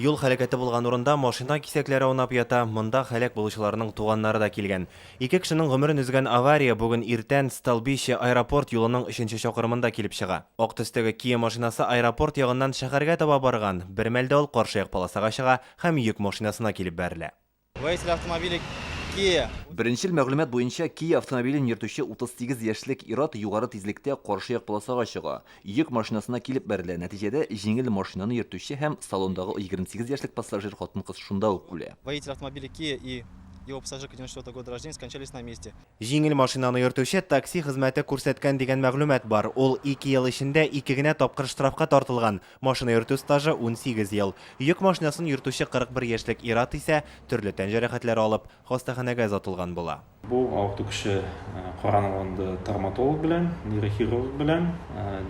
Юл һәлакәте булган урында машина кисәкләре аунап ята, монда һәлак булучыларның туганнары да килгән. Ике кешенең гомерен өзгән авария бүген иртән Столбище, аэропорт юлының өченче чакрымында килеп чыга. Ак төстәге Kia машинасы аэропорт ягыннан шәһәргә таба барган, бермәлдә ул каршыяк полосага чыга һәм йөк машинасына килеп бәрелә. Водитель автомобиля Kia. Беренчел мәгълүмат буенча, Kia автомобилен йөртүче 38 яшьлек ир-ат югары тизлектә каршы як полосага чыга, йөк машинасына килеп бәрелә, нәтиҗәдә җиңел машинаны йөртүче һәм салондагы 28 яшьлек пассажир хатын-кыз шунда ук үлә. Водитель автомобиля Kia и его пассажирка 94 года рождения скончались на месте. Җиңел машинаны йөртүче такси хезмәте күрсәткән дигән мәгълүмат бар. Ул ике ел эчендә ике генә тапкыр штрафка тартылган. Машина йөртү стажы, унсигез ел. Йөк машинасын йөртүче 41 яшьлек ир-ат исә, төрле тән җәрәхәтләре алып, хастаханәгә озатылган була. Бу авырту кеше каранулында травматолог белән, нейрохирург белән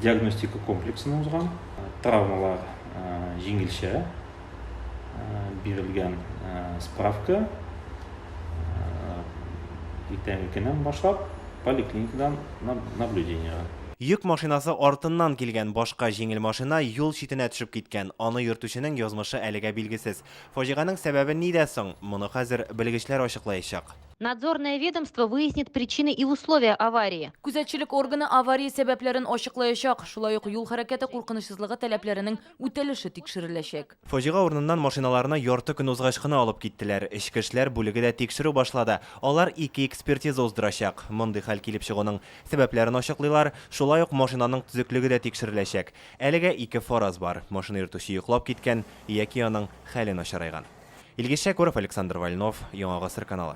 диагностика комплексына узган. Травмалар җиңелчә. бирелгән справка иртәнге көннән башлап поликлиникадан наблюдениега. Йөк машинасы артыннан килгән башка җиңел машина юл читенә төшеп киткән, аны йөртүченең язмышы әлегә билгесез. Фаҗиганең сәбәбе нидә соң? Моны хәзер белгечләр ачыклаячак. Надзорное ведомство выяснит причины и условия аварии. Күзәтчелек органы авария сәбәпләрен ачыклаячак, шулай ук юл хәрәкәте куркынычсызлыгы таләпләренең үтәлеше тикшереләчәк. Фаҗига урыныннан машиналарны ярты көн узгач кына алып киттеләр. Эчке эшләр бүлеге дә тикшерү башлады. Алар ике экспертиза уздырачак. Мондый хәл килеп чыгуның сәбәпләрен ачыклыйлар. Шулай ук машинаның төзеклеге дә тикшереләчәк. Әлегә ике фараз бар, машина йөртүче йоклап киткән яки аның хәле начарайган. Илгиз Шәкүров, Александр Вольнов, Яңа гасыр каналы.